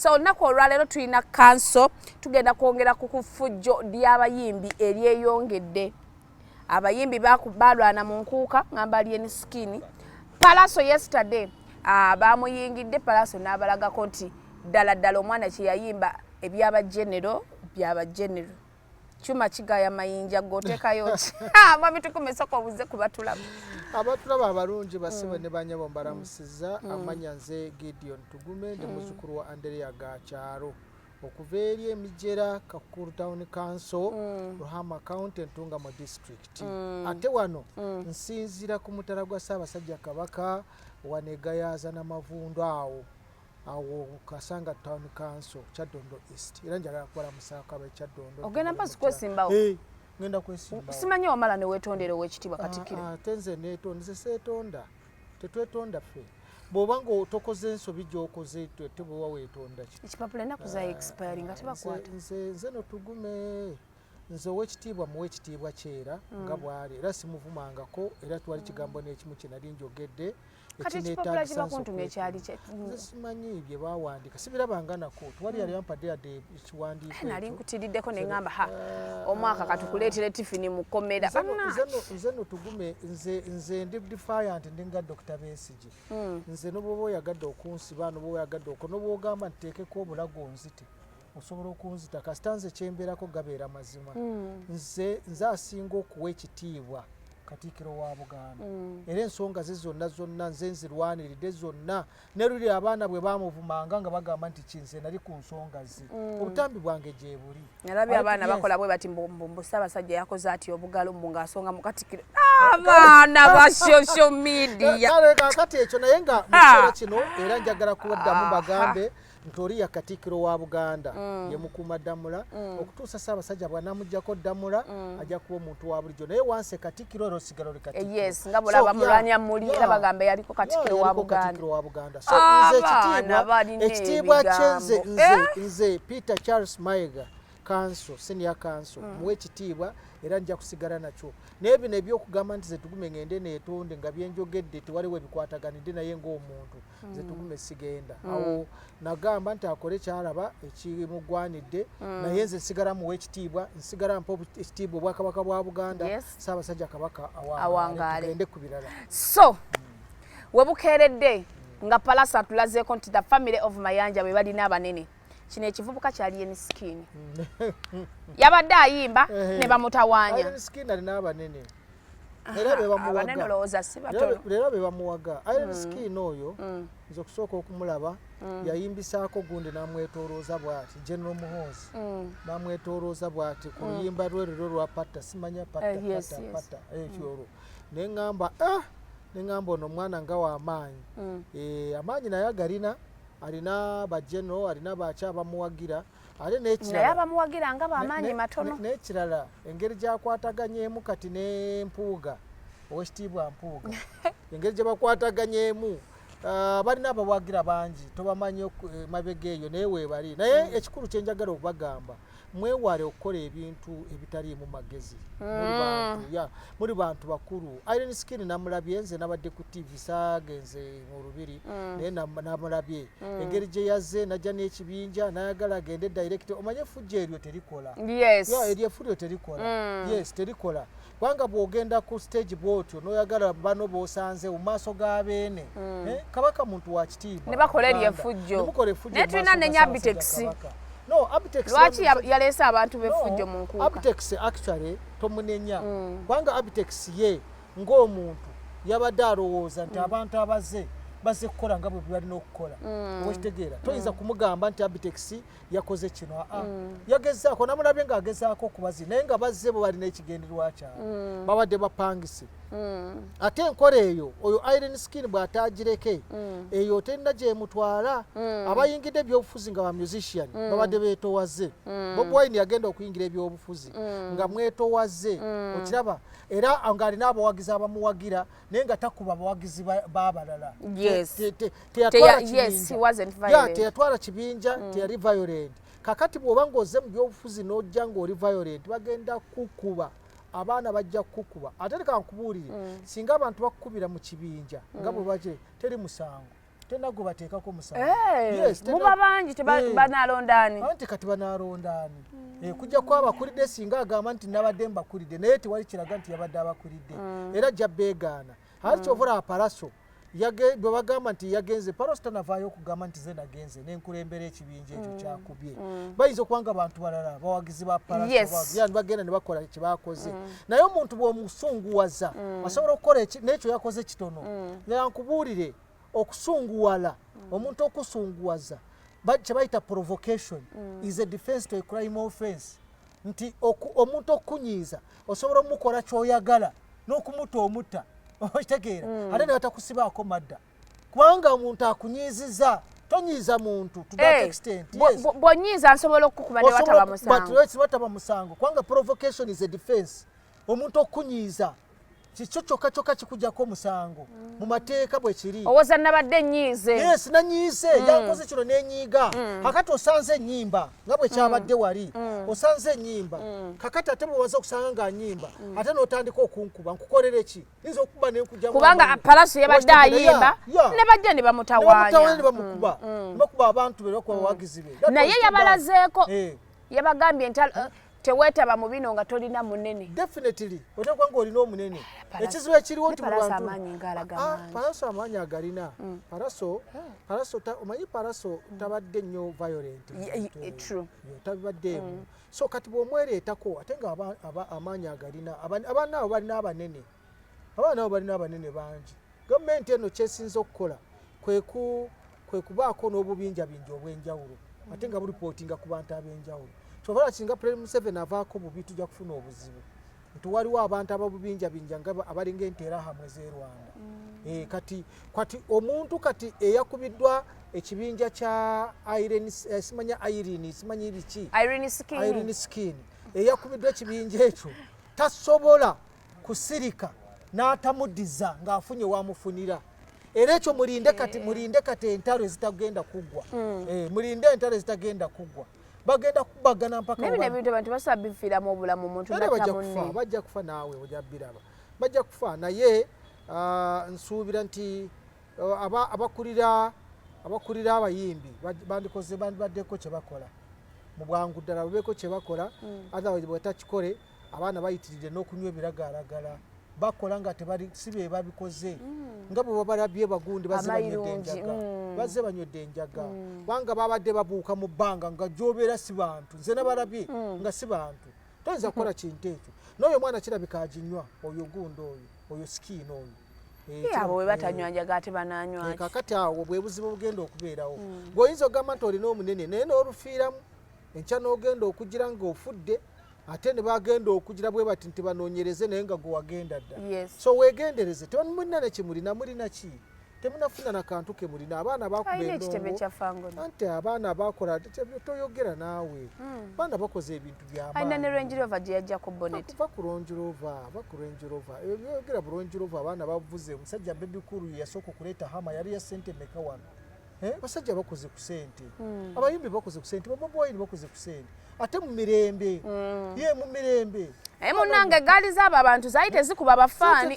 so olunaku olwaleero tulina kanso tugenda kwongera ku kufujjo ly'abayimbi eryeyongedde abayimbi balwana mu nkuuka ngamba lyeni sikini palaso yesterday ah, bamuyingidde palaso n'abalagako nti ddala ddala omwana kyeyayimba ebyaba genero byaba genero Chuma kigaya mayinja gotekayo ki ah, mwami tukume soko obuze kubatulaba abatulaba abalungi basibe mm. ne banyabo mbalamusiza mm. amanya nze Gideon Tugume ndi mm. muzukulu wa Andrea Gakyaro okuva eri emijera kakuru town council mm. ruhama county ntungamo district mm. ate wano mm. nsinzira ku mutala gwa ssaabasajja kabaka wanegayaza namavundu awo awo kasanga town council kyadondo east era njagala kukola musaako abe kyadondo ogenda mpasi kwesimbawo eh, ngenda kwesimbawo simanyi wamala newetondera owekitiibwa ah, katikiro ah, ate nze netonda nze setonda tetwetonda ffe bwoba nga tokoze ensobi gyokoze tebwewa wetonda ki ekipapula enaku za ah, expire nga tebakwata nze notugume nze owekitiibwa muwa ekitiibwa kyera mm. nga bwali era simuvumangako era twali kigambo nekimu kyenali njogedde kati ekipapula kiba kuntumya ekyali kye nze simanyi bye bawandiika sibirabanga nako tewali yali ampadde yadde ekiwandiiko eh, nali nkutiriddeko ne ŋŋamba ha ah. omwaka katukuleetera tifini mu kkomera nze no tugume nze ndi defiant ndi nga dokita beesigi hmm. nze nobwoba oyagadde okunsiba nobwoba oyagadde oko nobwogamba nteekeko obulago nzite osobola okunzita kasita nze kyembeerako gabeera mazima mm. nze nze asinga okuwa ekitiibwa katiikiro wa buganda mm. era ensonga ze zonna zonna nze nzirwaniridde zonna neruli abaana bwe bamuvumanga nga bagamba nti kinze nali ku nsonga ze mm. obutambi bwange gyebuli nalabi abaana bakola bwe bati mbusabasajja yakoze ati obugalo mbu ngaasonga mu katikiro abaana ba social media kati ekyo naye nga mu kiseera kino era njagala kuwaddamu bagambe Ntoriya Katikkiro wa Buganda mm. ye mukuuma Ddamula mm. okutuusa Ssaabasajja bw'anamuggyako Ddamula mm. ajja kuba omuntu wa bulijjo naye wansi Katikkiro era osigala oli Katikkiro. Eh, yes nga bulaba mulwanya muli era bagamba yaliko Katikkiro wa Buganda. So nze ekitiibwa ekitiibwa kye nze nze eh? nze Peter Charles Mayiga kanso senior kanso mm. muwe ekitiibwa era nja kusigala nakyo naye bino ebyokugamba nti zetugume ngende neetonde nga byenjogedde tewaliwo ebikwataganidde naye ng'omuntu mm. nze hmm. tugume sigenda hmm. awo nagamba nti akole kyalaba ekimugwanidde hmm. naye nze nsigala muwa ekitiibwa nsigala mpa ekitiibwa obwakabaka bwa buganda saabasajja kabaka awangaale ku birala so webukeeredde nga palasa atulazeeko nti the family of mayanja be balina abanene kino ekivubuka kyali ye misikiini yabadde ayimba ne bamutawaanya era bebamuwaga iron mm. skin oyo mm. nze okusooka okumulaba mm. yayimbisaako gundi namwetolooza bwati general muhoozi namwetolooza bwati ku luyimba lwe lero lwa patta simanya pattapata eh, ekyo olwo naye ngamba ah! ne ngamba ono omwana nga wamaanyi eh, amaanyi naye agalina alina ba general alina baki abamuwagira ate nekirala abamuwagira nga bamaanyi matono nekirala engeri gyakwataganyemu kati nempuuga owekitiibwa mpuuga engeri gyebakwataganyemu ah, balina abawagira bangi tobamanyi eh, mabega eyo naye webali naye hmm. ekikulu kyenjagala okubagamba mwewale okukola ebintu ebitaliimu magezi mm. muli bantu bakulu iron skin namulabye nze nabadde ku tv sagenze mu lubiri mm. naye namulabye mm. engeri gye yazze najja n'ekibinja nayagala agende direct omanye efujja eryo terikola eryo efujja terikola yes terikola kubanga bwogenda ku stage bwotyo noyagala bano bosanze mu maaso ga beene mm. eh, kabaka muntu wa kitiibwa ne bakola eryo efujjo naye tulina ne nyabitex no abitex lwaki yaleese abantu befujjo mu nkuuka abitex actually tomunenya mm. kubanga mm. abitex ye ng'omuntu yabadde alowooza nti mm. abantu abaze baze kukola nga bwe balina okukola mm. okitegeera toyinza mm. kumugamba nti abitex yakoze kino aa ah, ah. mm. yagezaako namulabye nga agezaako okubazi naye nga bazze bo balina ekigendererwa kyabwe mm. babadde bapangise mm. ate enkola eyo oyo iron skin bw'ataagireke mm. eyo terina gyemutwala mm. abayingidde ebyobufuzi nga ba musician mm. babadde beetowaze mm. bob wine yagenda okuyingira ebyobufuzi mm. nga mwetowaze mm. okiraba era ng'alina abawagizi abamuwagira mm. naye nga takuba bawagizi b'abalala teyatwala kibinja mm. teyali violent kakati bw'oba ng'oze mu byobufuzi n'ojja ng'oli violent bagenda kukuba abaana bajja kukukuba ate leka nkubuulire mm. singa abantu bakukubira mu kibinja nga mm. bwe baki teri musango tenagubateekako musamuba eh, bangi tebanalondaani eh. anti kati banalondaani hmm. eh, kujja kuba abakulidde singa agamba nti nabadde mbakulidde naye tewali kiraga nti yabadde abakulidde hmm. era jja beegaana ati hmm. kyovula aparaso bwe bagamba nti yagenze paroso tanavaayo okugamba nti ze nagenze nenkulembera ekib ekibinja ekyo mm. kyakubye mm. bayinza okuba nga bantu balala bawagizi ba parayandi bagenda ne bakola kye bakoze mm. naye omuntu bw'omusunguwaza asobola okukola n'ekyo yakoze kitono naye nkubuulire okusunguwala omuntu okusunguwaza kye bayita provocation is a defense to a crime offense nti omuntu okukunyiiza osobola omukola kyoyagala n'okumuta omutta okitegeera ate ne batakusibaako madda kubanga omuntu akunyiiziza tonyiiza muntu to that eh, extent yes bwonyiiza nsobola okukuba ne wataba musango but let's wataba musango kubanga provocation is a defense omuntu okunyiiza kikyo kyokka kyokka kikujjako omusango mu mateeka bwe kiri owoza nabadde nyiize yes nanyiize mm. yankoze kino nenyiiga mm. kakati osanze enyimba nga bwe kyabadde mm. wali osanze enyimba kakati ate bwewaza okusanga nga nyimba ate notandika okunkuba nkukolere ki kubanga palaso yabadde ayimba ne bajja ne bamutawanyabakuba mm, mm. abantu bebakubawagizi be mm. naye yabalazeeko eh. yabagambye nti eh, teweetaba mu bino nga tolina munene definitely otekwa nga olina omunene eh, ekizibu ekiriwo nti palaso amaanyi agalina palaso palaso omanyi palaso tabadde nnyo violent true tabibaddeemu mm. so kati bwomwereetako ate nga amaanyi agalina abaana abo balina abanene abaana abo balina abanene bangi gavumenti eno kyesinza okukola kwe kubaako n'obubinjabinja obw'enjawulo ate nga bulipootinga ku bantu ab'enjawulo kyovala singa pulezidenti museveni avaako bubi tujja kufuna obuzibu nti waliwo abantu ababubinjabinja nga abalinga enterahamu ezerwanda mm. eh, kati kati omuntu kati eyakubiddwa ekibinja kya eh, simanya irene simanyi biki irene skin eyakubiddwa ekibinja ekyo tasobola kusirika n'atamudiza ng'afunye wamufunira era ekyo mulinde kati mulinde kati entalo ezitagenda kuggwa mm. eh, mulinde entalo ezitagenda kuggwa bagenda kubagana mpaka naye bino ebintu abantu basobola bifiiramu obulamu omuntu natta munne bajja kufa naawe ojja biraba bajja kufa naye ah, nsuubira nti ah, abakulira abakulira abayimbi bandikoze bandibaddeko kye bakola mu bwangu ddala babeeko kye bakola mm. otherwise bwetakikole abaana bayitiridde n'okunywa ebiragalalagala bakola nga tebali si be babikoze mm. nga bwe babalabye bagundi bazze banywedde enjaga mm. bazze banywedde enjaga mm. kubanga babadde babuuka mu bbanga nga gyobeera si bantu nze nabalabye nga si bantu toyinza kukola kintu ekyo n'oyo omwana kirabika aginywa oyo gundi oyo oyo sikiina oyo eh, abo we batanywa eh. njaga ate bananywaki eh, kakati awo bwe buzibu bugenda okubeerawo gweoyinza okugamba nti olina omunene naye n'olufiiramu enkya n'ogenda okugira ng'ofudde ate ne bagenda okugira bwe bati nti banoonyereze naye nga gwe wagenda dda so weegendereze temulina ne kimulina mulina ki temunafuna na kantu ke mulina abaana bakubaanti abaana bakola toyogera naawe hmm. baana bakoze ebintu byamaanyibakuba ku ronjirova baku ronjirova ebyo byogera bu ronjirova abaana bavuze omusajja bebikulu yasooka okuleeta hama yali ya sente meka wano eh, abasajja bakoze ku sente hmm. abayimbi bakoze ku sente babobi wine bakoze ku sente ate mu mirembe hmm. ye mu mirembe naye munange egaali zaabo abantu zaali tezikuba abafaani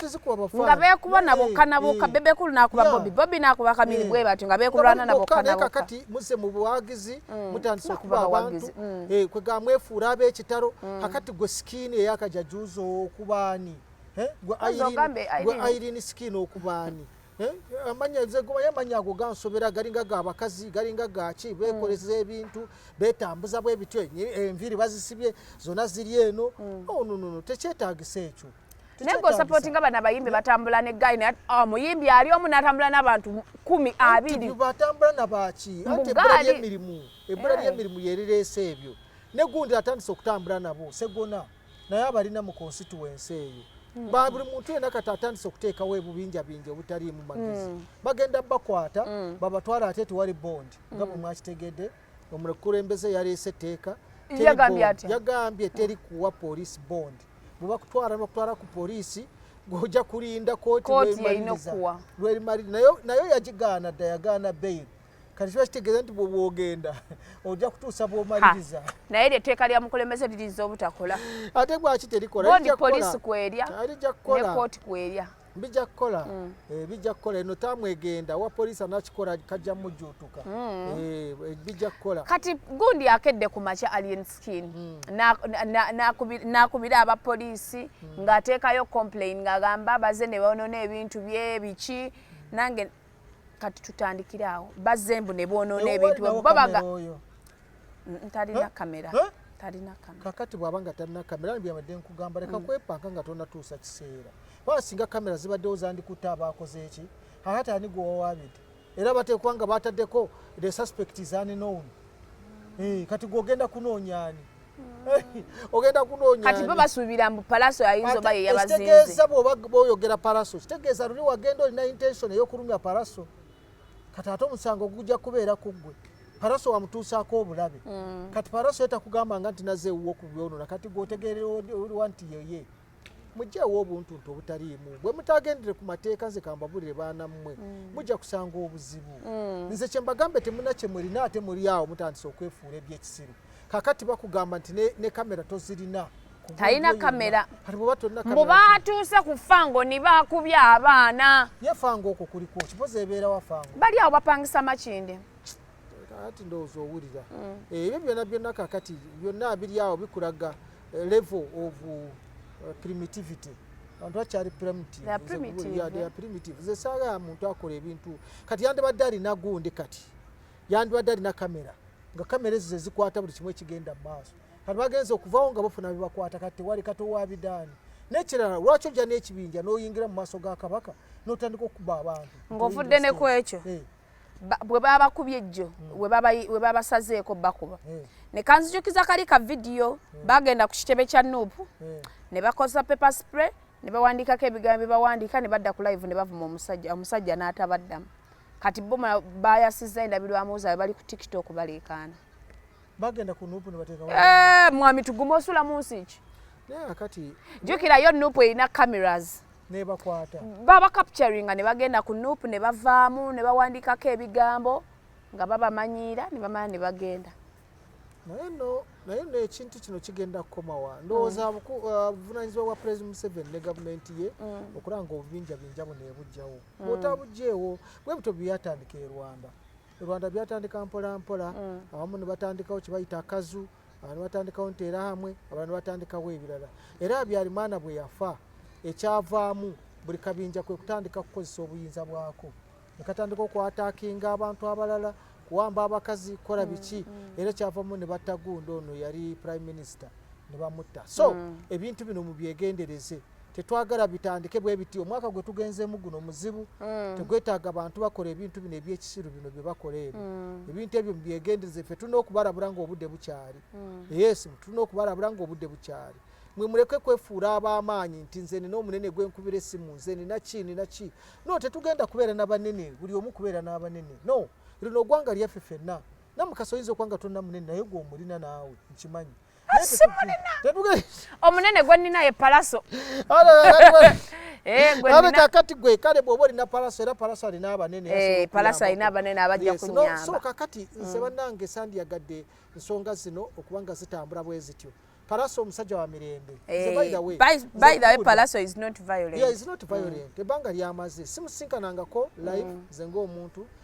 nga beekuba nabokka nabokka bebekulu nakuba bobi bobi nakuba kamiri bwe batyo nga beekulwana nabokka nabokka kati muze mu buwagizi mm. mutandise okuba abantu mm. eh, kwe ga mwefuula ab'ekitalo mm. kakati gwe sikiini eyakajajuuza okubaani eh, gwe airini sikiini okubaani Eh, amanya nze goba yamanya ago gansobera galinga ga bakazi galinga gaki bekoleza mm. ebintu betambuza bwe bityo enviri bazisibye zona ziri eno mm. oh, no, no, no. tekyetagisa ekyo naye gwe osapootinga bano abayimbi batambula ne guy naye ah, omuyimbi ali omu natambula n'abantu kumi abiri batambula nabaki anti ebbula lyemirimu ebbula eh. lyemirimu yerireese ebyo negundi atandise okutambula nabo segona naye abalina mu konsituwensi eyo hmm. ba buli muntu yena kati atandise okuteekawo ebubinjabinja obutaliimu magezi hmm. bagenda bakwata hmm. babatwala ate tewali bondi nga bwe mwakitegedde omukulembeze yaleese etteeka yagambye teri kuwa poliisi bondi bwe bakutwala bakutwala ku poliisi gwoja kulinda koti lwerimaliriza nayo yagigaana dda yagaana beyiri kati kiba kitegeeza nti bwobwogenda ojja kutuusa bwomaliriza naye eryo etteeka lya mukulembeze liriza obutakola ate gwaki terikolabondi poliisi kwerya ne kooti kwerya bijja kukola mm. eh, bijja kukola eno tamwegenda wa poliisi anakikola kajja mujjuutuka mm. eh, eh, bijja kukola kati gundi akedde ku makya alien skin mm. nakubira aba poliisi ng'ateekayo complain ng'agamba baze ne bonona ebintu bye biki nange kati tutandikire awo bazembu ne bwonoona ebintu babaga ntalina kamera talina kamera kakati bwaba nga talina kamera byabadde nkugamba leka mm. kwepanka nga tonatuusa kiseera baba singa kamera zibaddewo zandikutte abaakoze eki ahata ani gwewawaabidde era bateekwa nga bataddeko the suspect is unknown mm. eh, kati gwogenda kunoonya ani ogenda kunoonya kati bo basuubira mbu palaso yayinza oba yeyabazinze kitegeeza bwoba boyogera palaso kitegeeza luli wagenda olina intention eyokulumya palaso kati ate omusango gujja kubeera ku ggwe paraso wamutuusaako obulabe mm. kati paraso ye takugambanga nti naze ewuwo ku byonona kati gwotegeerewa nti yeye mujjeewo obuntuntu obutaliimu bwe mutaagendere ku mateeka nze kambabulire baana mmwe mm. mujja kusanga obuzibu mm. nze kye mbagambe temuna kye mulina ate muli awo mutandise okwefuula ebyekisiru kakati bakugamba nti ne kamera tozirina talina kamera mbu batuuse ku fango ni bakubye abaana ye fango okwo kuliku kipozi ebeera wa fango bali awo bapangisa makinde ati ndowooza owulira mm. ebyo byona byonna kakati byonna biri awo bikulaga level of uh, primitivity abantu bakyali primitive zesaala muntu akola ebintu kati yandibadde alina gundi kati yandibadde alina kamera nga kamera ezo zezikwata buli kimu ekigenda mumaaso kati bagenza okuvawo nga bafuna bebakwata kati tewali kati owabidaani nekirala lwaki ojja n'ekibinja n'oyingira mu maaso ga kabaka n'otandika okuba abantu ng'ovudde nekwekyo eh. bwe babakubye ejjo hmm. we babasazeeko bakuba hmm. ne kanzijukiza kali ka vidiyo hmm. bagenda ku kitebe kya nuupu ne bakozesa pepe spray ne bawandiikako ebigambo bye bawandiika ne badda ku live ne bavuma omusajja omusajja n'atabaddamu kati bo bayasizza endabirwamu zaabwe bali ku tiktok baleekaana bagenda ku nuupu ne bateeka eh, mwami tugume osula mu nsi ki jukirayo nuupu erina cameras nebakwata baba capturinga ne bagenda ku nup ne bavaamu ne bawandikako ebigambo nga babamanyiira ne bamala ne bagenda naye no naye no ekintu kino kigenda kukomawa ndowooza mm. uh, buvunanyizibwa bwa president museven ne gavumenti ye mm. okulanga obubinja binja buno ebujjawo mm. bwotabujjeewo bwe buto byatandika e rwanda e rwanda byatandika mpolampola awamu ne batandikawo kyebayita akazu mm. abantu batandikawo nteera hamwe abantu batandikawo ebirala era abyalimaana bwe yafa ekyavaamu buli kabinja kwe kutandika kukozesa obuyinza bwako nekatandika okwatakinga abantu abalala kuwamba abakazi kola mm, biki mm. era kyavamu ne batta gundi ono yali prime minister ne bamutta so mm. ebintu bino mubyegendereze tetwagala bitandike bwe biti omwaka gwe tugenzeemu guno muzibu mm. tegwetaaga bantu bakola ebintu bino ebyekisiru bino bye bakola ebyo mm. ebintu ebyo mubyegendereza ffe tulina okubalabula nga obudde bukyali mm. yes tulina okubalabula nga obudde bukyali mwe muleke kwefuula ab'amaanyi nti nze nina omunene gwe nkubira essimu nze nina ki nina ki no tetugenda kubeera n'abanene buli omu kubeera n'abanene no lino ogwanga lyaffe fenna namukasa oyinza okuba nga tonna munene naye gwe omulina naawe nkimanyi omunene gwe nina ye palaso eh, abe kakati gwe kale bwoba olina palaso era palaso alina abanene eh, palaso alina abanene abajja kunyamba so kakati mm. nze banange sandiyagadde nsonga zino okuba nga zitambula bwe zityo palaso omusajja wa mirembe ebanga lyamaze simusinkanangako live mm. nze ngaomuntu mm.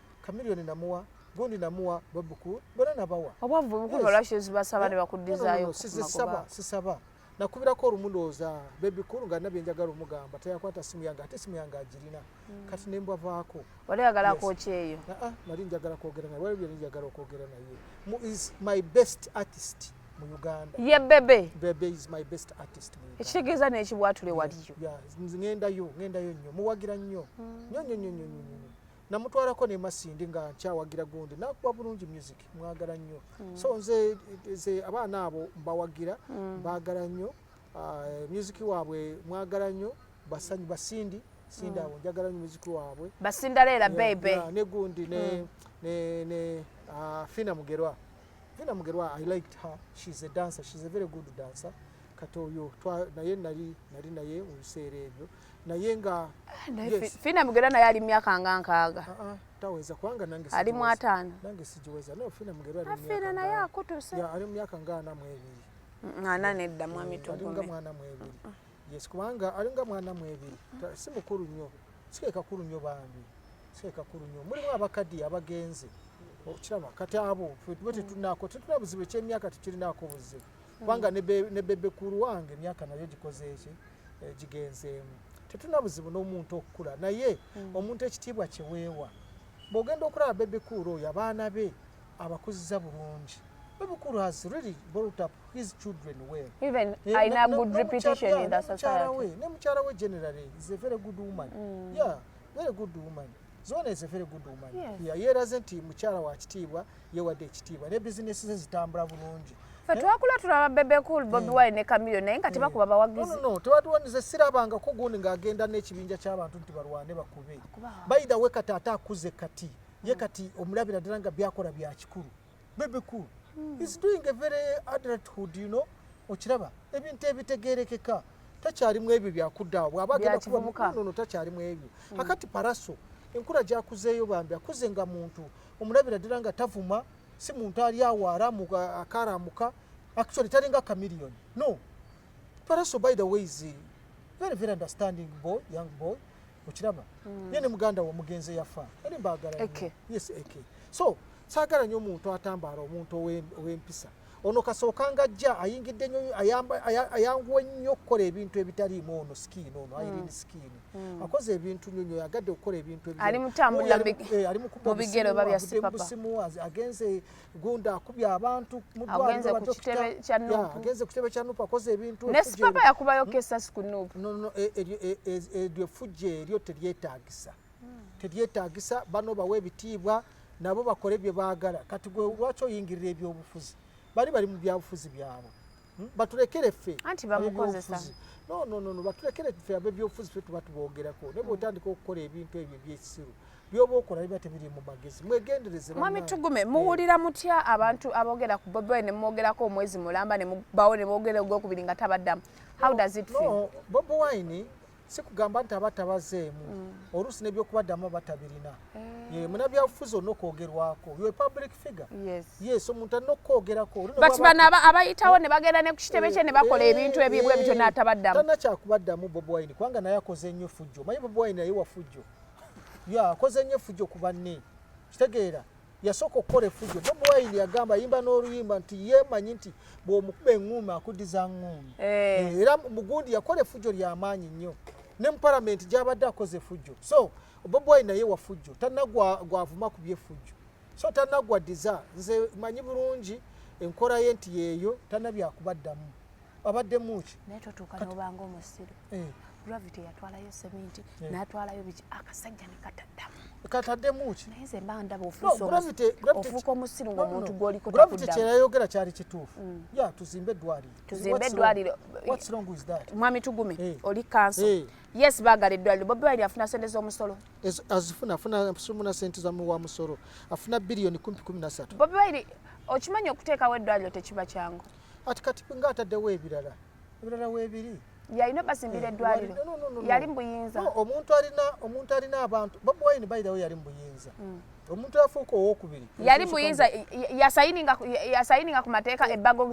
Chameleone namuwa gundi namuwa babuku bona nabawa obwavu bukulu olwaki ozibasaba ne bakuddizaayo sizisaba sisaba nakubirako olumu ndowooza bebi kulu nga nabye njagala omugamba teyakwata simu yange ate simu yange agirina hmm. kati nembwavaako wali ayagala kwokyeyo ah, ah, nali njagala kwogera naye wali byali njagala okwogera naye mu is my best artist mu uganda ye bebe bebe is my best artist mu uganda ekitegeeza n'ekibwatule waliyo ngendayo ngendayo nnyo muwagira nnyo hmm. nnyo nnyo nnyo nnyo nnyo namutwalako ne masindi nga nkyawagira gundi nakuba bulungi music mwagala nnyo mm. so nze ze abaana abo mbawagira mm. bagala nnyo uh, music waabwe mwagala nnyo basanyi basindi sindi mm. abo njagala nnyo music waabwe basinda leera bebe ne gundi ne mm. ne ne uh, fina mugerwa fina mugerwa i liked her she's a dancer she's a very good dancer kati oyo naye nali nali naye mu biseera ebyo naye nga ah, fina mugera naye ali myaka nga nkaaga ah, ah, taweza kubanga nange ali mu ataano nange sigiweza no fina mugera ali myaka fina naye akutuse ya ali myaka nga ana mu ebiri ana nedda mwami tugume ali nga mwana mu ebiri yes kubanga ali nga mwana mu ebiri si mukuru nnyo sike kakuru nnyo bambi sike kakuru nnyo mulimu abakadi abagenze okiraba kati abo tuba tetunaako tetuna buzibu ekyemyaka tekirinako buzibu kubanga ne bebe kulu wange emyaka nayo gikoze eki eh, gigenzeemu tetulina buzibu n'omuntu okukula naye hmm. omuntu ekitiibwa kyeweewa bw'ogenda okulaba bebe kulu oyo abaana be abakuziza bulungi bebe kulu has really brought up his children well even eh, aina good reputation in the society ne mukyala we generally is a very good woman mm. yeah very good woman zona is a very good woman yes. yeeraze nti mukyala wa kitiibwa yewadde ekitiibwa ne bizinesi ze zitambula bulungi fe twakula tulaba bebe cool bobi hmm. wine ne kamilio naye nga hmm. tebakuba bawagizi no, no, tewatuwanize sirabangako gundi ng'agenda n'ekibinja ky'abantu nti balwane bakube bayidha we kati ate akuze kati ye kati omulabira ddala nga byakola bya kikulu Bebe cool hmm. is doing a very adulthood you know okiraba ebintu ebitegerekeka takyalimu ebyo byakuddawo bwaba agenda kubamunono takyalimu ebyo hmm. akati paraso enkula gyakuzeeyo bambi akuze nga muntu omulabira ddala nga tavuma si muntu ali awo aramu akaramuka actually talinga kamiliyoni no paraso by the way is very very understanding boy young boy okiraba mm. ye ne muganda wo mugenze yafa eri mbagala eke yes eke so sagala nyo omuntu atambara omuntu owempisa ono kasooka nga ajja ayingidde nyo ayanguwe nnyo okukola ebintu ebitaliimu ono sikiini ono mm. ayirindi sikiini mm. akoze ebintu nyo nyo yagadde okukola ebintu ebitaliimu ali mutambula eh, mu bigero babya sipapa agenze gundi akubye abantu mudwaliro ku kitebe kya nup agenze ku kitebe kya nup akoze ebintu ne sipapa yakubayo hmm? kesasi ku nup no no e, e, e, eryo efujje eryo teryetaagisa hmm. teryetaagisa bano bawa ebitiibwa nabo bakole bye baagala kati gwe lwaki oyingirira ebyobufuzi bali bali mu byabufuzi byabwe hmm? batulekere ffe anti bamukozesa no no no batulekere ffe abebyobufuzi ffe tuba tuboogerako naye bwotandika okukola ebintu ebyo ebyekisiru byoba okola biba tebiri mu magezi mwegendereze mwami tugume eh. muwulira mutya abantu aboogera ku bobi wine nemwogerako omwezi mulamba nemubawo nebogera ogwokubiri nga tabaddamu how does it feel bobi wine si kugamba nti aba tabazeemu mm. oluusi nebyokubaddamu aba tabirina eh. munabyabufuzi olina okwogerwako yo public figure yes omuntu alina okukwogerako but bano abayitawo ne bagenda ne ku kitebe eh, kye ne bakola eh, ebintu ebyebwe bityo n'atabaddamu talina kyakubaddamu bob wine kubanga naye akoze nnyo fujjo omanyi bob wine naye wafujjo ya akoze nnyo fujjo ku banne kitegeera yasooka okukola efujjo bob wine yagamba ayimba n'oluyimba nti yemanyi nti bw'omukuba eŋŋuumi akuddiza ŋŋuumi eh. Eh, era mugundi yakola efujjo ly'amaanyi nnyo ne mu palamenti gy'abadde akoze efujjo so bob wine naye wafujjo tanna gwavuma ku byefujjo so tanna gwaddiza nze manyi bulungi enkola ye nti yeeyo tanna byakubaddamu abadde muki naye totuuka nobanga omusiru eh. gravity yatwalayo seminti eh. natwalayo biki akasajja nekataddamu katadde muki naye nze mba ndaba ofuuka omusiru ngaomuntu gwoliko gravity kyeyayogera kyali kituufu mm. ya tuzimbe eddwaliro tuzimbe eddwaliro mwami tugume eh. oli kanso yes bagala eddwaliro bobi wine afuna sente z'omusolo azifuna afuna sumuna sente zamuwa musolo afuna biliyoni kumpi kumi nasatu bobi wine okimanyi okuteekawo eddwaliro tekiba kyangu ati kati nga ataddewo ebirala ebirala weebiri yalina basimbira eh, eddwaliro yali mubuyinza omuntu alina omuntu alina abantu bobi wine bayidawo yali mubuyinza hmm. omuntu afuuka owokubiri yali muyinza yasayininga ku mateeka ebbago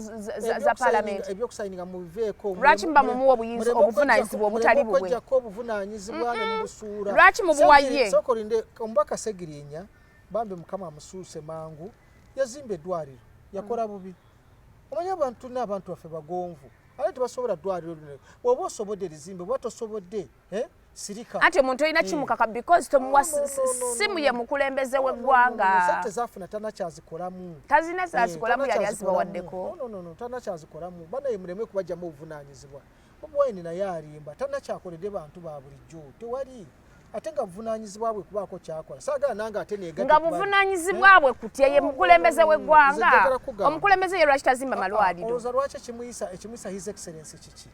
za palamenti ebyokusayininga mubiveeko lwaki muba mumuwa obuyinza obuvunanyizibwa obutali bubwejjako obuvunanyizibwa ne mubusuula lwaki mubuwaye sokolinde omubaka segirinya bambi mukama amusuuse mangu yazimba eddwaliro yakola bubi mm. omanyi abantu tulina abantu baffe bagonvu ate tebasobola ddwaliro lino oba osobodde erizimbe oba tosobodde eh? sirika anti omuntu olina eh. kimukaka because tomuwa simu ye mukulembeze w'eggwanga tezafuna tana kyazikolamu tazina eh, zazikolamu yali azibawaddeko tana kyazikolamu banaye muleme kubajjamu obuvunanyizibwa Bobi Wine naye alimba, talina kyakoledde bantu ba bulijjo, tewali ate nga buvunaanyizibwa bwe kubaako kyakola saagala nange ate neega nga buvunaanyizibwa eh? bwe kutya ye oh, mukulembeze w'eggwanga omukulembeze ye lwaki tazimba ah, ah, malwaliro olowooza lwaki ekimuyisa ekimuyisa his excellence kiki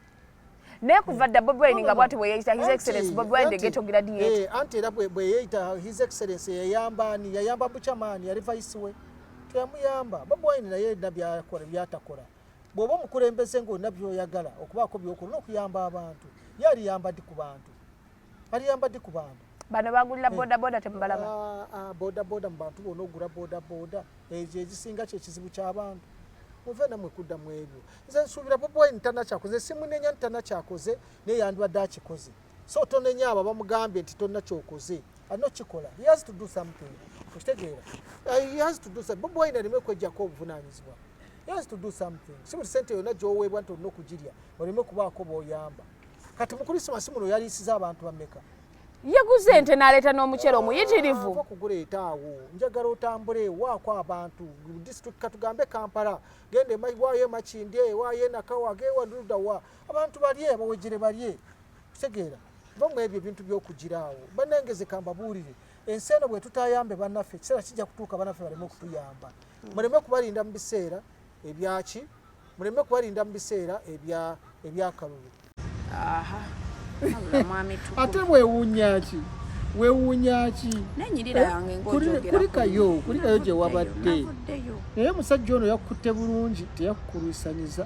naye kuva dda bobi wine nga bwati bweyeyita his excellence bobi wine degetogira diyeti eh, anti era bweyeyita his excellence yayamba ani yayamba bucamaani yali vaisi we teyamuyamba bobi wine naye dda byakola byatakola bw'oba omukulembeze ng'olina by'oyagala okubaako by'okola olina okuyamba abantu ye aliyamba ddi ku bantu aliyamba ddi ku bantu bano bagulira eh. bodaboda temubalaba ah, ah, bodaboda mu bantu bona ogula bodaboda ekyo ekisinga kyekizibu ky'abantu muve namwe kudda mu ebyo nze nsuubira boboyi ntanakyakoze simunenya ntanakyakoze naye yandibadde akikoze so tonenya abo abamugambye nti tonna kyokoze alina kikola he has to do something okitegeera uh, he has to do something bobi wine aleme okwejjako obuvunanyizibwa he has to do something si buli sente yonna gyoweebwa nti olina okugirya oleme okubaako booyamba kati mu krisimasi muno yaliisiza abantu bameka yaguze ente naleeta n'omucere omuyitirivu ah, okuguleeta awo njagala otambule waako abantu disitulikika tugambe kampala genda waayo emakindye waayo enakawa gewaludawa abantu balye bawejere balye kitegeera vamwe ebyo ebintu byokugiraawo banange zekambabuulire ensi eno bwetutayambe banaffe ekiseera kijja kutuuka banaffe baleme okutuyamba muleme kubalinda mu biseera ebyaki muleme kubalinda mu biseera ebyakalulu ate wewunyaki wewunyaki kulikayo eh, kulikayo gyewabadde naye musajja ono yakukutte bulungi teyakukulwisanyiza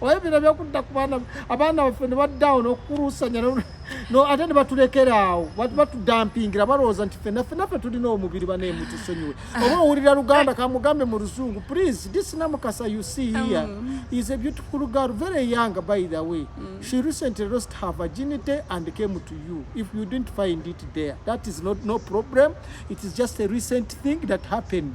oba ebino byokudda ku baana abaana baffe ne baddawo n'okukulusanya ate ne batulekera awo batudampingira balowooza nti fena fena fe tulina omubiri baneemu tusonyiwe ah. oba owulira luganda kamugambe mu luzungu please this namukasa you see here um. is a beautiful girl very young by the way mm. she recently lost her virginity and came to you if you didn't find it there that is not no problem it is just a recent thing that happened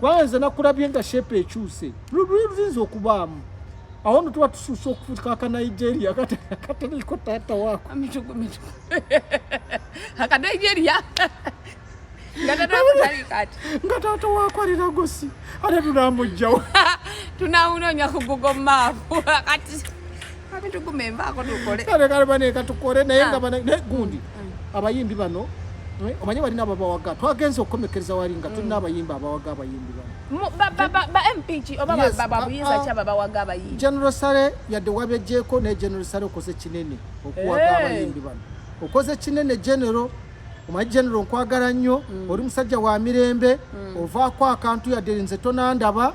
kubanga nze nakulabye nga shepe ekyuse luyinza okubaamu awo no tuba tusuusa okufuuka aka nigeria akateriko taata waako akanigeria nga taata waako ali lagosi ate tunamujjawo tunawunonya ku google map kati kale kale bane katukole naye nga ah. bane gundi mm. abayimbi bano eh, omanyi balina ababawaga twagenza okukomekereza wali nga tulina mm. abayimbi abawaga abayimbi banogeneral sale yadde wabejeko naye general sale okoze kinene okuwaga eh. abayimbi bano okoze kinene general omanyi general nkwagala nnyo mm. oli musajja wa mirembe ovaako akantu yadde nze tonandaba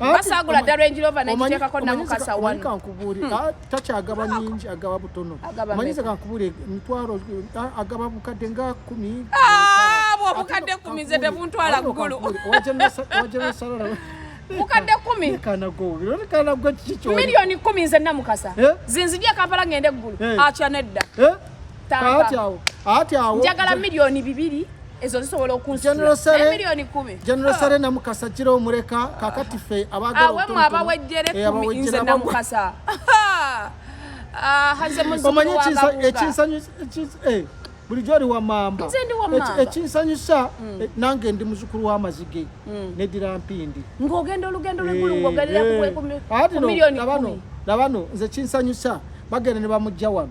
basagula dda range rover nekiteekako namukasa wano kankubuule hmm. ah, takyagaba nyingi agaba butono omanyize kankubuule emitwalo ah, agaba bukadde nga kumi ah, obukadde kumi nze tebuntwala ggulu bukadde kumi miliyoni kumi nze namukasa eh? zinzija kampala ngende eggulu eh? atya nedda eh? njagala miliyoni bibiri ezo zisobola okunsiamiliyoni kumigeneral sale oh. namukasa gira omuleka kakati fe abagawemwe abawejjere eh, kumi nze namukasa ah, omanyi ekinsanyusa eh, bulijjo oli wamamba ekinsanyusa mm. eh, nange ndi muzukulu wamazige mm. nedira mpindi ngogenda olugendo lwegulungogerera kumiliyoni kumi labano nze kinsanyusa bagenda ne bamujja wano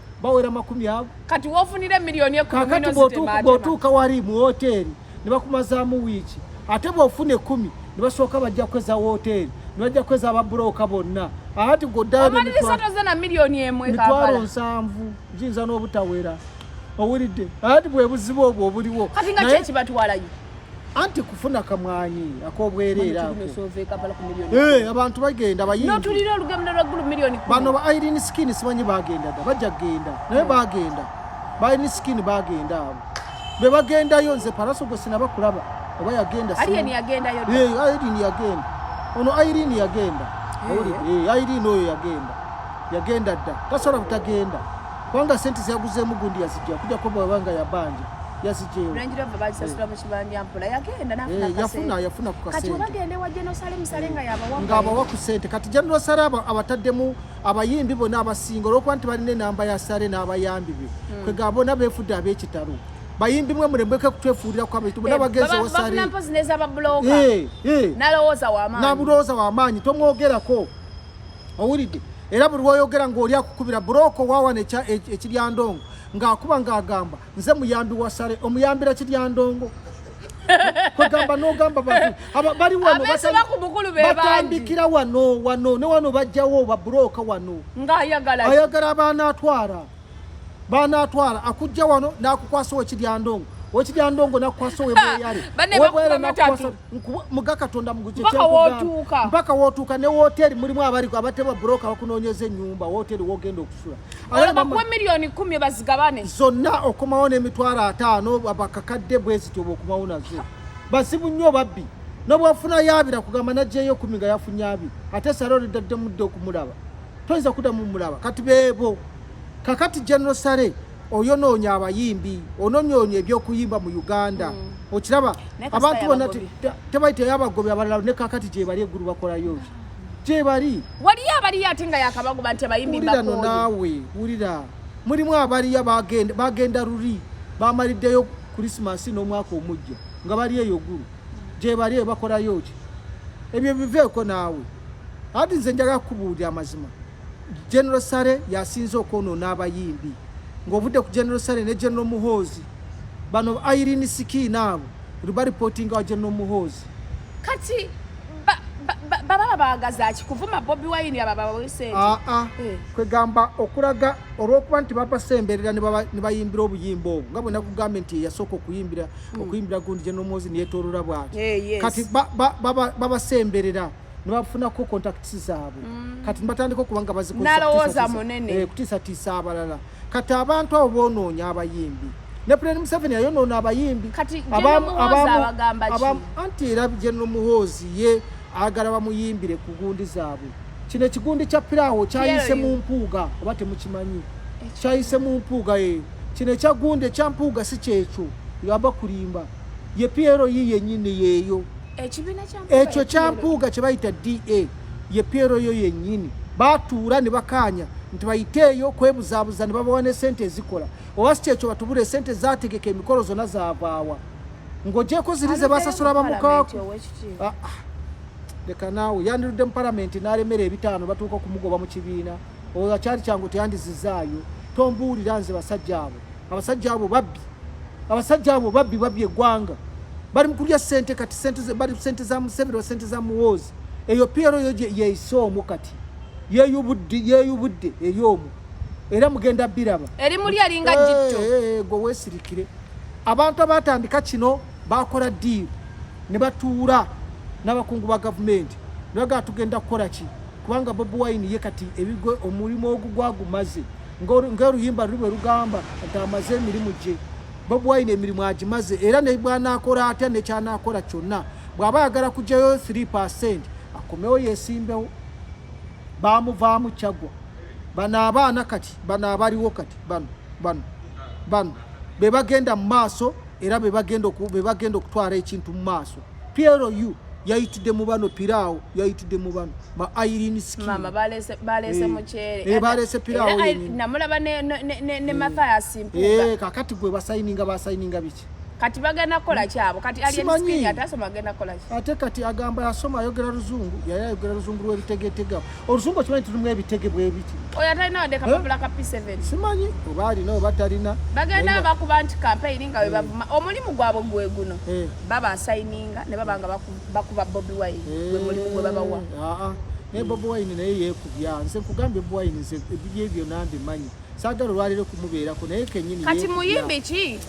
bawera makumi ago kati wofunira emiliyoni ekumikati bwotuuka wali mu woteeri nebakumazaamu wiiki ate bwofuna ekumi nebasooka bajja kweza woteeri nebajja kweza ababuloka bonna ati godamitwalo nsanvu giyinza n'obutawera owulidde ati bwebuzibu obwo obuliwo kati nga kyekibatwalayo anti kufuna kamwanyi akobwereera eh, abantu bagenda bayindibano ba irin skin simanyi bagendaga bajja kugenda naye hmm. bagenda ba irin skin bagenda abo be bagendayo nze paraso gwe sinaba kulaba oba yagenda irin yagenda eh, ono irin yagenda eh. irin oyo yagenda yagenda dda tasobola butagenda kubanga sente zyaguzeemu gundi yazijja kujja kuba wabanga yabanja ngaabawa ku sente kati general sale abataddemu abayimbi bona abasinga olwokuba nti balina enamba ya sale n'abayambi be hmm. kwegamba bona befudde ab'ekitalo bayimbi mwe mulembeke kutwefuulira kwa bitu bona eh, bagenze wasali eh, eh. nabulowooza wamaanyi tomwogerako owulidde era buli woyogera ng'oli akukubira buloko wawana ekiryandongo ng'akuba ng'agamba nze muyambi wa sale omuyambira kiryandongo kwegamba nogamba bantu bali wano batandikira wano wano ne wano bajjawo babuloka wano ayagala baanatwala baanatwala akujja wano nakukwasa okiryandongo okiryandongo nakukwasa webweyale muga katonda mugukyekyakugaa mpaka wotuuka ne woteri mulimu abali abatebwa broka bakunonyeza enyumba woteri wogenda okusula bakuwa miliyoni kumi bazigabane zonna okomawo nemitwalo ataano bakakadde bwezityo bwokumawo nazo bazibu nnyo babbi nobwafuna yabira kugamba najeyo kumi nga yafunye abi ate sara olidadde mudde okumulaba toyinza kudamu mulaba kati bebo kakati general sare oyonoonya abayimbi ononyoonyo ebyokuyimba mu uganda mm. okiraba abantu bona tebali teyabagobi abalala ne kakati gyebali eggulu bakolayo gyebali waliyo abaliyo ate nga yakabagoba nti abayimbirano naawe wulira mulimu abaliyo bagenda luli bamaliddeyo krisimasi n'omwaka omujja nga bali eyo gulu gyebali ebakolayo ki ebyo biveeko naawe ati nze njaga kukubuulira amazima General Sare yasinze okwonoona abayimbi ng'ovudde ku General Sare ne General Muhoozi bano Irene Sikiina abo lubalipotinga wa General Muhoozi kati baba baagaza ki kuvuma Bobi Wine aba babawe sente aa ah, ah. eh. kwegamba okulaga olw'okuba nti babasemberera ne bayimbira obuyimba obwo nga bwena kugambye nti yasooka okuyimbira hmm. okuyimbira gundi General Muhoozi neyetoolola bwati eh, kati babasemberera nebafunako contacts zaabwe mm. kati nibatandika okuba nga bazikozakutiisatiisa eh, abalala kati abantu abo bonoonya abayimbi ne pulani museveni yayonoona abayimbi anti era genero muhoozi ye agala bamuyimbire ku gundi zaabwe kino ekigundi kya piraawo kyayise mu mpuuga oba temukimanyi kyayise mu mpuuga e eh. kino ekya gundi ekya mpuuga si kyekyo yaba kulimba ye piero yiye nyine yeyo ekyo kyampuuga kye bayita da ye pyero yo yennyini batuula ne bakaanya nti bayiteeyo kwebuzaabuza ne babawa ne sente ezikola oba si kyekyo batubula esente zategeka emikolo zonna zavaawa ng'ogyeko ziri ze basasula bamukaaku ah, ah. leka naawe yandirudde mu palamenti n'alemera ebitaano batuuka okumugoba mu kibiina oyo akyali kyangu teyandizizaayo tombuulira nze basajja abo abasajja abo babbi abasajja abo babbi babbi egwanga bali mukulya sente kati sente bali sente za museveni wa sente za muwoozi eyo piero yo yeise omu kati yeyubudde yeyubudde eri omu era mugenda biraba eri muli alinga jitto eh, eh, eh, gwe wesirikire abantu abatandika kino bakola diiru ne batuula n'abakungu ba gavumenti ne bagala tugenda kukola ki kubanga bobi wine ye kati ebigo omulimu ogugwagumaze ng'oluyimba luli bwe lugamba nti amaze emirimu gye bobi wine emirimu agimaze era ne bwanaakola atya ne kyanaakola kyonna bw'aba ayagala kugyayo 3 percent akomewo yeesimbewo baamuvaamu kyagwa bano abaana kati bano abaliwo kati bano bano bano be bagenda mu maaso era be bagenda okutwala ekintu mu maaso PLU yayitidde mu bano piraawo yayitidde mu bano ba Irene Skin mama balese balese eh, muchere eh balese piraawo namulaba ne ne ne Mathias eh, Mpuga eh kakati gwe basayininga basayininga biki kati bagenda kukola kyabo kati alienskin atasoma agenda kukola ki ate kati agamba yasoma ayogera luzungu yaya ayogera luzungu lwebitegetega olusungu okimanyi tulimu ebitege bwebiti oyo atalina wadde kapapula ka p7 simanyi oba alina oba talina bagenda bakuba nti kampeyini nga webavuma eh. omulimu gwabwe gwe guno eh. baba asayininga ne baba nga bakuba bobi wine gwe eh. mulimu gwe babawa ah, ah. naye bobi wine naye yekubya nze nkugambye bobi wine nze ebibye byona mbimanyi Saagala olwaleero kumubeerako naye kenyini. Kati muyimbi ki?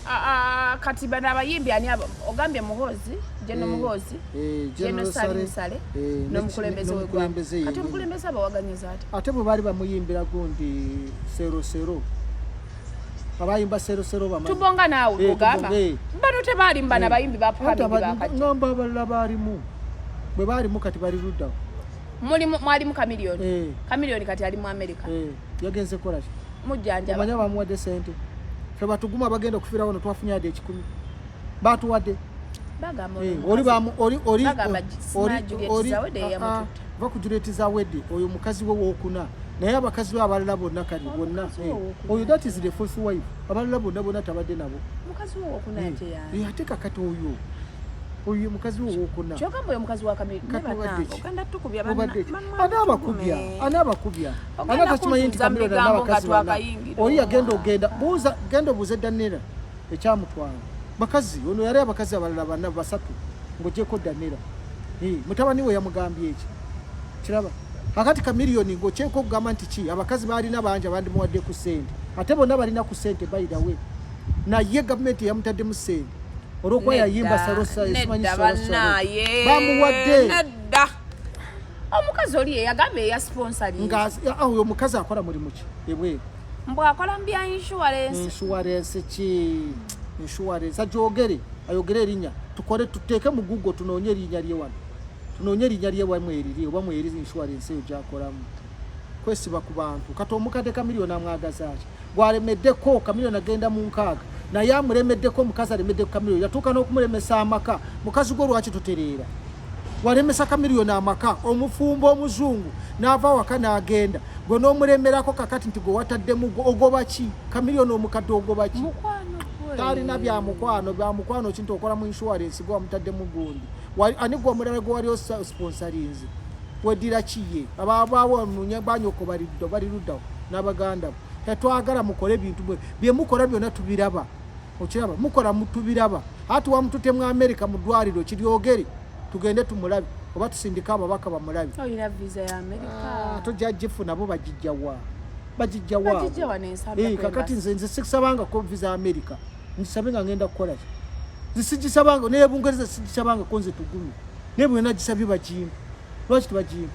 Ah, ah, kati bano abayimbi ani abo ogambye muhoozi jeno eh, muhoozi eh, jeno sale sale eh, nomukulembeze wegwanga ate omukulembeze abawaganyiza ati ate bwe baali bamuyimbira gundi serosero abayimba serosero bama tubonga naawe ogamba bano tebaalimba nabayimbi bapuhamiibakagamba abalala baalimu bwe baalimu kati bali luddawo mwalimu kamiliyoni kamiliyoni kati ali mu amerika yagenze kola ki mujanja manya bamuwade sente fe batuguma bagenda kufira wano twafunya ade kikumi batu wade baga mo eh, oli ba oli oli oli oli va kujureti za wede oyo mukazi we wokuna naye abakazi abalala bonna kali bonna eh, oyo that is the first wife abalala bonna bonna tabadde nabo mukazi wo wokuna eh, ate ya eh ate kakati oyo oyo mukazi wo wokuna kyoka mbo mukazi wa kamili kati wadde kanda tukubya bana bana bakubya ana bakubya Ogenda Abaka kimanyi nti kuntuza mu Kamiliyoni bigambo nga n'abakazi bana. twakayingira. Oli yagenda ogenda buuza genda obuuze Danira ekyamutwala. Bakazi ono yali abakazi abalala bana basatu ng'ogyeko Danira. Eh, mutabani we yamugambye eki? Kiraba. Akati Kamiliyoni ng'okyeko okugamba nti ki abakazi baalina bangi abandimuwadde ku ssente. Ate bonna balina ku ssente by the way. Naye gavumenti yamutaddemu ssente. Olw'okuba Nedda, yayimba Salosa esimanyi nedda Salosa. bannaaye, Bamuwadde. nedda omukazi oli yeyagamba eya sponsoringoyo omukazi akola mulimu ki ebweru mbu akola mu bya insurance insurance ki insurance ajogere ayogere erinya tukole tuteeke mu google tunoonye erinya lyewano tunoonye erinya lyewamwe eriri oba mweri insurance eyo gyakolamu kwesiba ku bantu kati omukadde kamiliyoni amwagazaaki gwalemeddeko kamiliyoni agenda mu nkaaga naye amulemeddeko omukazi alemedde ku kamiliyoni yatuuka n'okumulemesa amaka mukazi gwo lwaki tutereera walemesa kamiliyoni amaka omufumbo omuzungu n'ava awaka n'agenda gwe n'omulemerako kakati nti gwe wataddemu gwe ogoba ki kamiliyoni omukadde ogoba ki talina bya mukwano bya mukwano kintu okola mu insurance gwe wamutaddemu gundi ani gwe omulala gwe wali osponsorinze weddira kiye ababaawo nunye banyoko baliddo baliruddawo nabaganda bo tetwagala mukole bintu bwe byemukora byona tubiraba okiraba mukora mutubiraba ati wamutute mu america mu dwaliro kiryogere tugende tumulabe oba tusindika ababaka bamulabe ah, tojja jifu nabo bagijjawa bagijja wa eh, kakati nze nze sikusabanga ko visa america nzisabe nga ngenda kukola ki zisigisabanga naye bungereza sigisabanga ko nze tugumi naye bwena gisabye bagimba lwaki tebagimba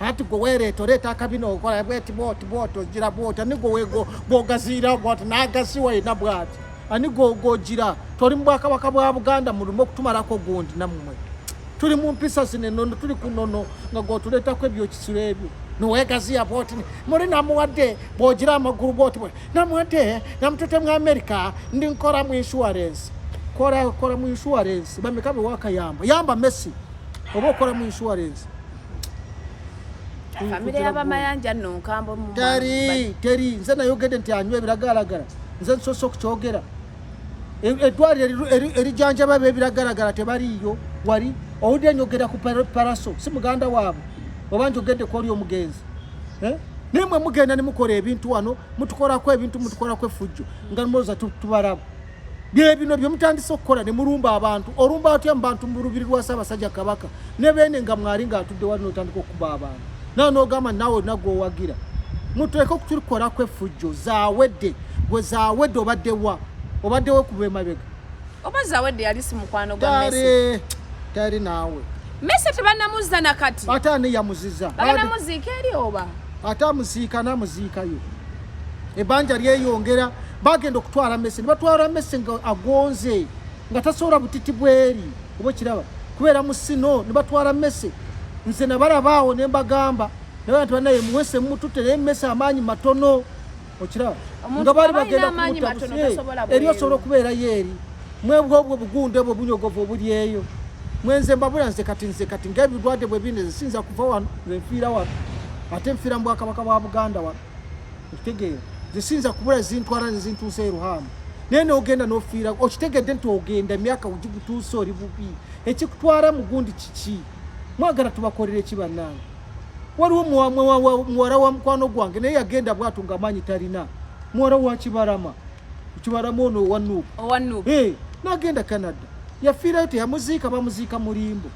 anti gwe weereeta oreeta akabina okola bweti bwoti bwoti ogira bwoti ani gwe gwogaziira gwati n'agasi walina bwati ani gwogira toli mu bwakabaka bwa buganda mulumu okutumalako gundi namumwe tuli mu mpisa zino enono tuli ku nono nga gwotuleetako ebyokisiro ebyo niwegaziya bwoti muli namuwadde bwogira amagulu bwoti bwe namuwadde namutute mu amerika ndi nkora mu insurance kora kora mu insurance bameka bewakayamba yamba messi oba okora mu insurance famire yabamayanja nno nkambo teri teri nze nayogedde nti anywa ebiragalagala nze nsosa okukyogera e, eddwaliro erijanjaba ebo ebiragalagala tebaliiyo wali owudde nyogera ku paraso si muganda waabwe oba njogedde kwoli omugenzi eh? naye mwe mugenda nemukola ebintu wano mutukolako ebintu mutukolako efujjo nga nmoza tubaraba byebino byemutandise okukola ne mulumba abantu olumba atya mubantu mulubiri lwa Ssaabasajja Kabaka ne beene nga mwali nga atudde wali notandika okukuba abantu nawe nogamba nawe olina gwowagira muteeke okutulikolako effujjo zawedde gwe zawedde obadde wa obadde we kuba emabega oba zawedde yali si mukwano gwa Messi tayali naawe Messi tebanamuzza na kati ate ani yamuziza baganamuziika eri oba ate amuziika namuziikayo ebanja lyeyongera bagenda okutwala mese nebatwala mese nga agonze nga tasobola butiti bweri oba okiraba kubeera mu sino nebatwala mese nze nabalabaawo nembagamba nabantu banaye muwese mumutute naye mese amaanyi matono okiraba nga bali bagenda kumutaeri osobola okubeerayo eri mwebwa obwo obugundu ebwo obunyogovu obuli eyo mwenze mbabula nze kati nze kati ngaebirwadde bwebineze siyinza kuva wano nze nfiira wano ate nfiira mu bwakabaka bwa buganda wano okitegeera nze siyinza kubula zintwala nezintuusa eruhaamu naye nogenda nofiira okitegedde nti ogenda emyaka ugigutuusa oli bubi ekikutwala mugundi kiki mwagala tubakolera eki bannange waliwo muwala wa mukwano gwange naye yagenda bwatu nga amaanyi talina muwala wa kibalama kibalama ono owanuubu nagenda canada yafiirayo teyamuziika bamuziika mulimbo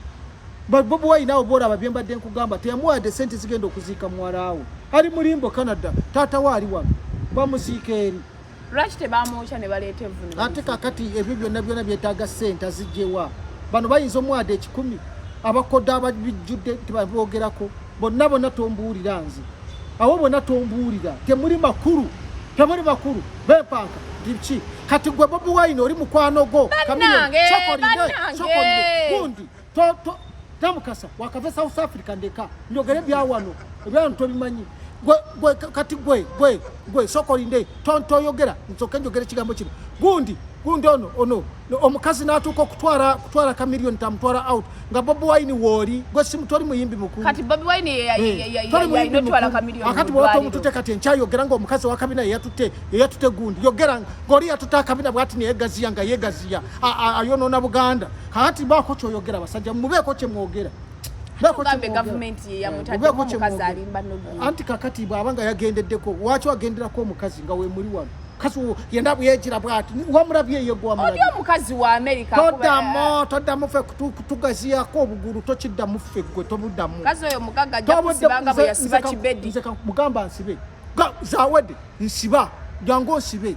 But Bob Wine nawe bwolaba bye mbadde nkugamba teyamuwadde sente zigenda okuziika muwalaawo ali mulimbo Canada taata we ali wano bamuziika eri lwaki tebamwokya ne baleeta evvunira ate kakati ebyo byonna byonna byetaaga sente azijjewa bano bayinza omuwada ekikumi abakoda ababijjudde tebaboogerako bonna bonna tombuulira nze awo bonna tombuulira temuli makulu temuli makulu bepanka ndiki kati gwe bobi wine oli mukwano gwo kamiyoni sokolide sokolide gundi to to tamukasa wakave south africa ndeka njogere byawano ebyawano tobimanyi gwe gwe kati gwe gwe gwe sokolinde tonto yogera nsoke njogere kigambo kino gundi gundi ono ono omukazi natuuka okutwala kutwala ka million tamutwala out nga bobi wine wooli gwe simu toli muyimbi mukuakati bwewata omutute kati enkyayogera nga omukazi wakabina yeyatutte yeyatutte gundi yogera ngaoli yatutte akabina bwati neyegaziya nga yegaziya ayonona buganda Kati bako kyoyogera basajja mubeeko kye mwogera. Bako kye government ye ya mutadde mu kazi alimba no. Anti kakati baba nga yagendeddeko wacho agendera ko mukazi nga we muri wano. Kasi yenda buyejira bwati wamurabye ye gwa murabye. Odio mukazi wa America kuba. Toda mo toda mufe kutugaziya ko obuguru tokidda mufe gwe tobuda mu. Kazi oyo mugaga ajja kusibanga bwe yasiba kibedi. Mugamba nsibe. Zawede nsiba. Jango nsibe.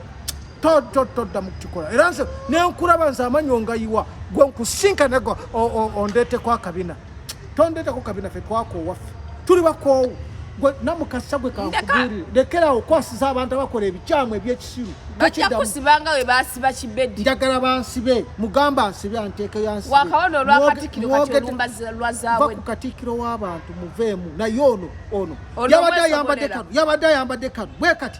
todda mukukikola era nze nenkulaba nze amanyo ngayiwa gwe nkusinkanego ondeteko akabina tondeteko kabina fe twakowaffe tuli bakoowu gwe namukasa gwe kankubiri lekerawo okwasiza abantu abakola ebikyamu ebyekisiru bajakusibanga we basiba kibedi njagala bansibe mugamba nsibe anteeke yansibewaakawonoolwakatikirokakatikkiro w'abantu muveemu naye ono ono yabadde ayambadde kano yabadde ayambadde kano bwe kati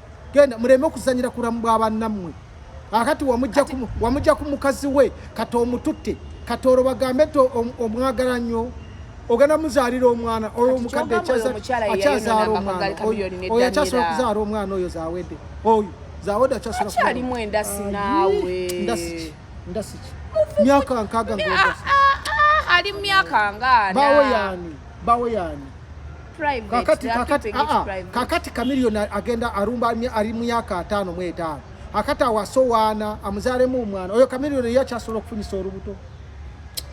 genda muleme okuzanyira ku bulamu bwa bannammwe akati wamujja ku mukazi we kati omututte kati olwo bagambe nti omwagala nnyo ogenda muzaalira omwana oyo omukadde akyazaala omwana oyo akyasobola okuzaala omwana oyo zawedde oyo zawedde akyasolaakyalimu endasi naawe ndasiki myaka nkaaga ah, ah, ah, ali mu myaka ngaana bawe yaani bawe yaani kakati kakati aa ah, ah. kakati kamiliyoni agenda arumba ali myaka ataano mu etaano akati awasowaana amuzaalemu omwana oyo kamiliyoni eyo akyasobola okufunyisa olubuto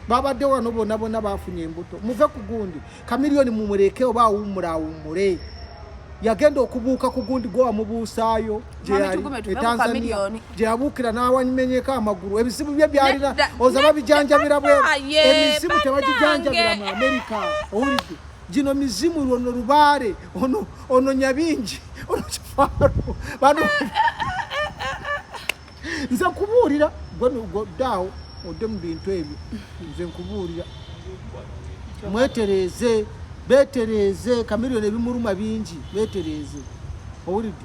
babadde wano bonna bonna bafunye embuto muve ku gundi kamiliyoni mumuleke oba awummule awummule yagenda okubuuka ku gundi gwe wamubuusaayo gyeyabuukira n'awamenyeko amagulu ebizibu bye byalina oza babijanjabira bwe emizimu tebagijanjabira mu amerika owulidde gino mizimu lwono lubaale ono nyabingi ono kifaaro bano nze nkubuulira gwenugoddaawo odde mu bintu ebyo nze nkubuulira mwetereeze betereeze kamiliyoni ebimuluma bingi betereeze owulidde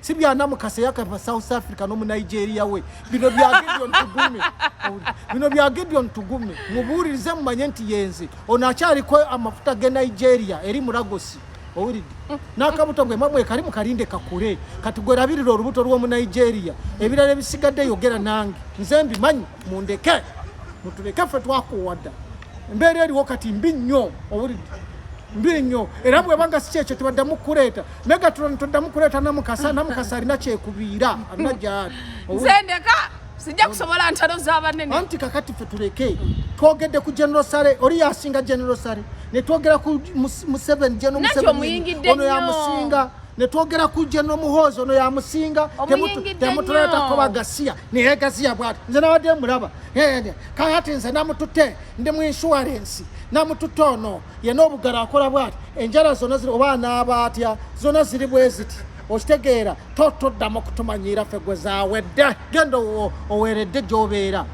si bya namukasa yakava south africa no mu nigeria we bino bya gideon tugume bino bya gideon tugume mubuulirize mumanye nti yenze ono akyaliko amafuta ge nigeria eri muragosi owulidde n'akabuto gwe mamwe kali mukalinde kakule kati gwerabirira olubuto lw'omu nigeria ebirala ebisigadde yogera nange nze mbimanyi mundeke mutuleke ffe twakuwadda embeera eriwo kati mbi nnyo owulidde mbi nnyo era bwebanga si kyekyo tebaddamu kukuleeta megatron toddamu kuleeta namukasa namukasa alina kyekubiira alina gyali zendeka sijja kusobola ntalo zabanene anti kakati ffe tuleke twogedde ku general sale oli yasinga general sale netwogera ku museveni jeno museveni ono yamusinga netwogera ku General Muhoozi ono yamusinga temutuleetako bagasiya naye gasiya bwati nze nabadde mulaba kakati nze namututte ndi mu insurance namututte ono yena obugala akola bwati enjala zona ziri oba anaaba atya zona ziri bwe ziti okitegeera totoddamu okutumanyiira ffe gwe zawedde genda oweeredde gyobeera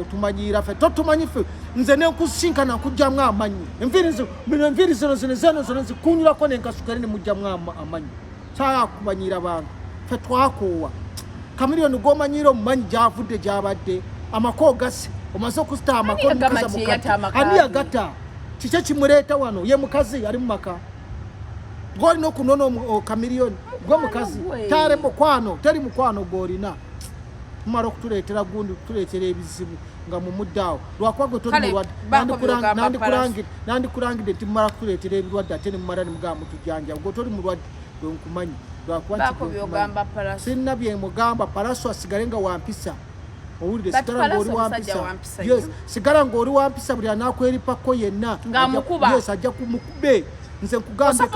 otumanyiira ffe totumanyi ffe nze nenkusinkana nkujjamu amanyi enviirizi bino enviiri zino zino zeno zona zikunyulako nenkasukere nemujjamu amanyi kyakumanyira abantu fe twakoowa kamiliyoni gwomanyiira omumanyi gyavudde gyabadde amako gasi omaze okusita amakoani yagata kikyo kimuleeta wano ye mukazi ali mumaka gwolina okunona kamiliyoni gwe mukazi tale mukwano teri mukwano gwolina mumala okutuleetera gundi kutuleetera ebizibu nga mumuddaawo lwakuba gwe toli mulwadde nandikulangidde nti mumala kutuleetera ebirwadde ate nemumala nemugamba mutujanja gwe toli mulwadde gwe nkumanyi lwakubasinna byemugamba palaso asigale nga wampisa owulire sigala ngaoli wampisa yes sigala ngaoli wampisa buli anakweripako yenna yes ajja kumukube nze nkugambye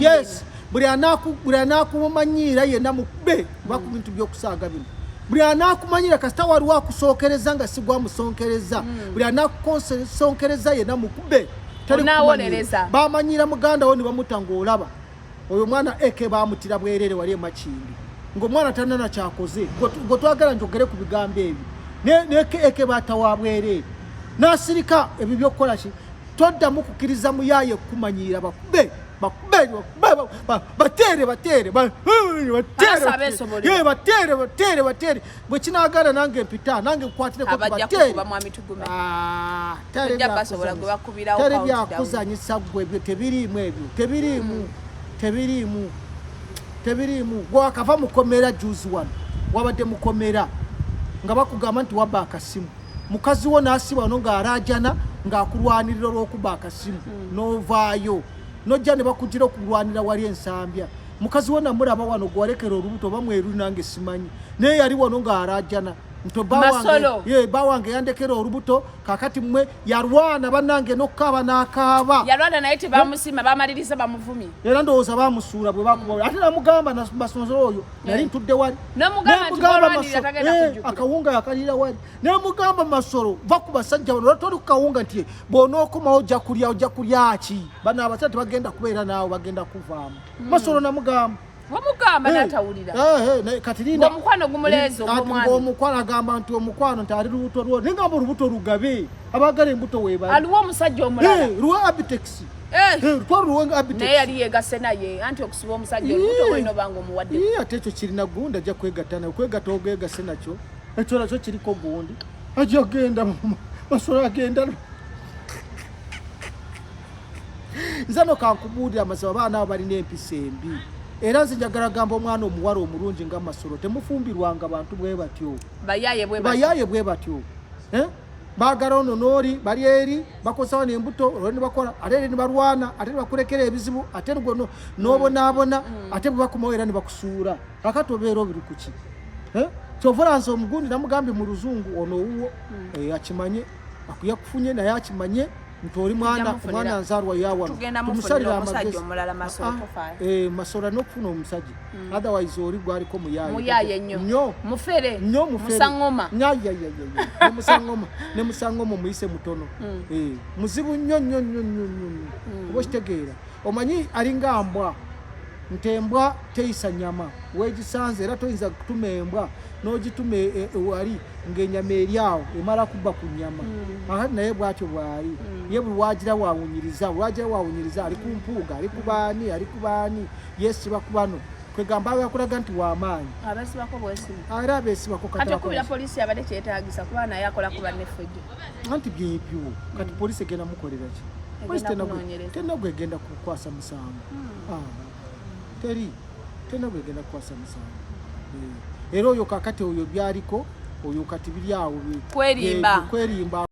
yes buli anaakumanyiira yenna mukube kuba ku bintu by'okusaaga bino buli anaakumanyira kasita waliwo akusookereza nga sigwa musonkereza hmm. buli anakusonkereza yenna mukube bamanyira muganda wo ne bamuta ng'olaba oyo omwana eke bamutira bwerere wali emakindi ng'omwana tanana kyakoze gwe twagala njogere ku bigambo ebyo neke eke batawa bwerere n'asirika ebyo by'okukola ki toddamu kukkiriza muyaaye kukumanyiira bakube bakubere batere batere batere batere batere bwe kinagana nange mpita nange nkwatireko batereteri byakuzanyisa gwe ebyo tebiriimu ebyo tebiriimu mm. tebiriimu tebiriimu gwakava mukomera juzi wano wabadde mukomera nga bakugamba nti wabba akasimu mukazi wo n'asiba wano ng'alaajana ng'akulwanirira olw'okuba akasimu hmm. n'ovaayo n'ojja ne bakugira okulwanira wali ensambya mukazi wo namulaba wano gwalekera olubuto oba mweru nange simanyi naye yali wano ng'alaajana ntobawange ba wange yandekera olubuto kakati mwe yalwana banange nokukaaba nakaaba yalwana naye tebamusima bamaliriza bamuvumi era ndowooza bamusuula bwe bakuba ate namugamba masonzo oyo nali eh. ntudde wali eh, akawunga yakalira wali nemugamba masolo va ku basajja bano toli kukawunga nti bwonookomawo ojja kulya ojja kulya ki bano abasajja tebagenda kubeera naawe bagenda kuvaamu hmm. masolo namugamba wamugamba eh, natawulira kati linda omukwano gumuleezo omukwano agamba nti omukwano nti ali lubuto lwo naye ngamba olubuto lugabe abagala embuto webali aliwo omusajja omulala luwa abitex Eh. Eh, naye yali yegase naye anti okusiba omusajja olubuto olina obanga omuwadde ate ekyo kirina gundi ajja kwegatta naye kwegatta ogegase nakyo ekyo nakyo kiriko gundi ajja genda masolo agenda nze no kankubuulira amazima abaana abo balina empisa embi era nze njagala gamba omwana omuwala omulungi nga masolo temufumbirwanga bantu bwe batyo bayaye bwe batyo eh? bagala ono nooli bali eri bakosawo nembuto olwo nibakola ate eri nibalwana ate nibakulekera ebizibu ate lgono nobonaabona mm. ate bwebakomawo era nibakusuula kakati obeera obiri kuki eh? kyovolansi omugundi namugambye mu luzungu ono owuwo mm. eh, akimanye akuyakufunye naye akimanye nti oli mwana omwana nzalwa yawano tumusalira amagezi ah, eh, masola n'okufuna omusajja hmm. otherwise oli gwaliko muyaye nyo mufere nyo muferemusangoma nemusangoma nemusangoma omuyise mutono hmm. eh, muzibu nyo nyo nyo nyo nyo hmm. oba okitegeera omanyi alinga mbwa nti embwa teyisa nyama wegisanze era toyinza kutuma embwa nogituma e, e, wali ngaenyama eri awo emala kubba ku nyama mm. aa naye bwatyo bwali mm. ye buli wagira wawunyiriza wagira wawunyiriza ali ku mpuuga ali kubaani ali kubaani yesiba kubano kwegamba yakulaga nti wamaanyi era abesibako anti byebyo kati mm. polisi egenda mukoleraki tenagwegenda kukwasa musango ah, teri tena bwegenda kukwasa musango eh, era oyo kakati oyo byaliko oyo kati biri awo kwerimba